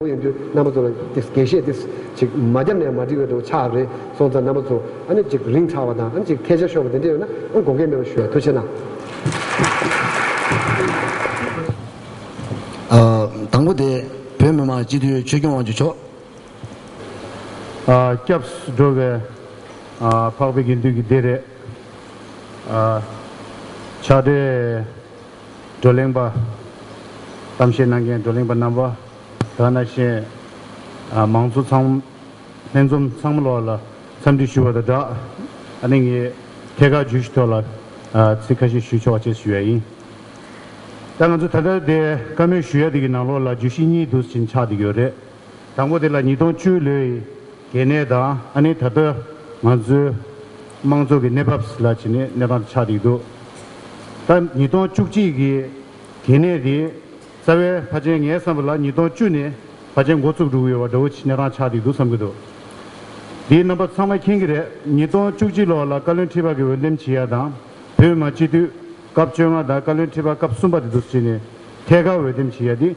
ཁོང་ཡོང་དུས་རྣམ་པ་ཚོ་ལ་དེ་དགེ་བཤེས་དེ་ཅིག་མ་བརྒྱབ་ནས་མ་འགྲིག་བས་འགྲོ་ཆགས་རེད་སོང་ཙང་རྣམ་པ་ཚོ་ཨ་ནི་ཅིག་རིང་ཚར་བ་དང་ཨ་ནི་ཅིག་ཐལ་ཆ་ཤོར་བ་དེ་འདྲས་ཡོད་ན་ཨང་དགོངས་སྐལ་མེད་པ་ཞུ་ཡག་ཐུགས་ཆེ་གནང། དང་པོ་དེ་བོད་མི་མང་སྤྱི་འཐུས་ཆོས་སྐྱོང་དབང་ཕྱུག་མཆོག། སྐྱབས་འགྲོ་བས། འཕགས་པའི་དགེ་འདུན་གྱི་སྡེ་རེད། ཕྱག་སྦྲེལ། བགྲོ་གླེང་པ། གཏམ་བཤད་གནང་མཁན་བགྲོ་གླེང་པ་རྣམ་པ། དག་སྣ་གཞན། མང་ཚོགས་ཚང། ལྷན་འཛོམས་ཚང་མ་ལོགས་ལ་འཚམས་འདྲི་ཞུ་བ་དང་སྦྲགས། ཨ་ནེ་ངས་ཐད་ཀར་བརྗོད་གཞི་ཐོག་ལ། ཚིག་ཁ་ཤས་ཞུས་ཆོག་ཅེས་ཞུ་ཡ་ཡིན། ད་ང་ཚོ་ད་ལྟ་དེ་བཀའ་མོལ་ཞུ་ཡ་དེ་གི་ནང་ལོགས་ལ་བརྗོད་གཞི་གཉིས་དུས་ཕྱིན་ཆགས་འདི་ཡོད་རེད། དང་པོ་དེ་ལ་ཉིས་སྟོང་བཅུའི་ལོའི་གལ་གནད་དང་ཨ་ནི་ད་ལྟ་ང་ཚོའི་དམངས་ཚོགས་ཀྱི་གནས་བབ་ལ་བྱས་ནས་གནས་སྟངས་དེ་ཆགས་བསྡད་འདུག་ད་ཉིས་སྟོང་བཅུ་གཅིག་གི་གལ་གནད་དེ་རྩ་བའི་ཕ་ཆེན་ངའི་བསམ་པ་ལ་ཉིས་སྟོང་བཅུ་ནས་ཕ་ཆེན་འགོ་བཙུགས་འགྲོ་གི་ཡོད་པ་འདྲ་བོ་གནས་སྟངས་ཆགས་བསྡད་འདུག་བསམ་གྱི་འདུག་དེའི་རྣམ་པ་ཚང་མ་མཁྱེན་གྱི་རེད་ཉིས་སྟོང་བཅུ་གཅིག་ལོ་ལ་བཀའ་བློན་ཁྲི་པ་གི་འོས་འདེམས་བྱེད་ཡ་དང་བོད་མ་སྤྱི་འཐུས་སྐབས་བཅོ་ལྔ་དང་བཀའ་བློན་ཁྲི་པ་སྐབས་གསུམ་པ་དེ་ཚོ་བྱས་ནས་ཐད་ཀར་འོས་འདེམས་བྱེད་ཡ་དེ།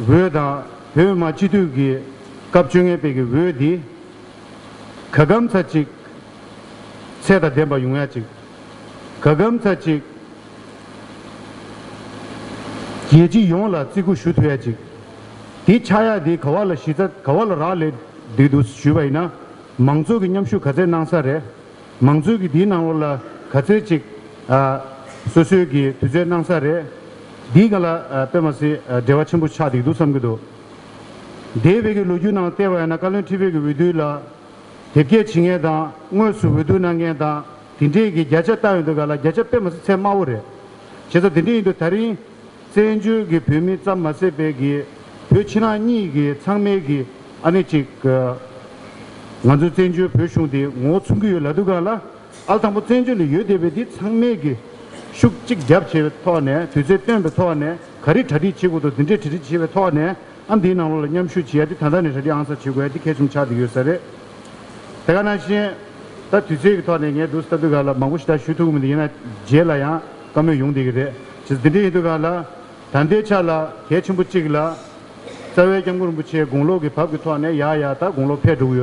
འོས་དང་བོད་མ་སྤྱི་འཐུས་ཀྱི་སྐབས་བཅོ་ལྔའི་དཔེ་གྱི་འོས་འདི། ག་གམ་ཚ་གཅིག། ཚད་དང་ལྡན་པ་ཡོང་ཡ་གཅིག། ག་གམ་ཚ་གཅིག། རྒྱལ་སྤྱི་ཡོངས་ལ་བརྩི་བཀུར་ཞུ་ཐུབ་ཡ་གཅིག། དེ་ཆགས་ཡ་དེ་ག་བ་ལ་གཞི་རྩ་ག་བ་ལ་རག་ལས་འདུག་འདུག་ཞུས་པ་ཡིན་ན་མང་ཚོགས་ཀྱི་མཉམ་ཞུགས་ག་ཚད་གནང་ས་རེད། མང་གཙོའི་གི་དེའི་ནང་ལོགས་ལ་ག་ཚོད་ཅིག་སོ་སོའི་གི་དུས་ཚོད་གནང་ས་རེད། འདིའི་ག་ལ་དཔེ་མ་སྲིད་འབྲེལ་བ་ཆེན་པོ་ཆགས་འདེགས་འདུག་བསམ་གི་འདུག། འདས་བོད་ཀྱི་ལོ་རྒྱུས་ནང་ལྟེ་བ་ཡང་ན་བཀའ་བློན་ཁྲི་བོད་ཀྱི་འོས་བསྡུ་ལ་དེབ་སྐྱེལ་བྱེད་མཁན་དང་དངོས་སུ་འོས་བསྡུ་གནང་མཁན་དང་དེ་འདྲའི་གི་བརྒྱ་ཆ་བཏགས་ཡོད་འདུག་ག་ལ་བརྒྱ་ཆ་དཔེ་མ་སྲིད་ཚད་དམའ་བོ་རེད། བྱས་ཙང་དེ་འདྲས་ཡིན་འདུག་ད་རིང། བཙན་བྱོལ་གྱི་བོད་མི་ཙམ་མ་ཟད་པའི་གི་བོད་ཕྱི་ནང་གཉིས་ཀྱི་ཚང་མའི་གི་ཨ་ནི་གཅིག་གི། ང་ཚོའི་བཙན་བྱོལ་བོད་གཞུང་དེ་ངོ་བོ་མཚུངས་ཀྱི་ཡོད་ལ་འདུག་ག་ལ་ཨལ་དང་པོ་བཙན་བྱོལ་ལ་ཡོད་བསྡད་པའི་དེ་ཚང་མའི་གི་ཤུགས་གཅིག་རྒྱབ་བྱས་པའི་ཐོག་ནས་དུས་ཚོད་བཏོན་པའི་ཐོག་ནས་ག་རེ་གྲ་སྒྲིག་བྱེད་དགོས་དོ་དེ་འདྲས་གྲ་སྒྲིག་བྱས་པའི་ཐོག་ནས་ཨ་འདིའི་ནང་ལོགས་ལ་མཉམ་ཞུགས་བྱེད་ཡ་དེ་ད་ལྟ་ནས་གྲ་སྒྲིག་ཨང་སར་བྱེད་དགོས་ཡ་དེ་གལ་ཆུང་ཆགས་བསྡད་ཡོད་ས་རེད། དེ་ག་ནང་བཞིན་ད་དུས་ཚོད་ཀྱི་ཐོག་ནས་ངས་བསྡུར་ས་ད་འདུག་ག་ལ་མང་པོ་ཞིག་ད་ཞུ་ཐུབ་ཀྱི་མི་འདུག་ཡིན་ན་རྗེས་ལ་ཡང། བཀའ་མོལ་ཡོང་བསྡད་ཀྱི་རེད། ཇི་སྟེ་འདི་ཡི་དུས་རང་ལ། ད་ལྟའི་ཆ་ལ་གལ་ཆེན་པོ་གཅིག་ལ། རྩ་བའི་སྐྱབས་མགོན་རིན་པོ་ཆེའི་དགུང་ལོག་གི་བབ་ཀྱི་ཐོག་ནས་ཡག་ཡག་ད་དགུང་ལོ་ཕལ་དྲུག་ཡོད།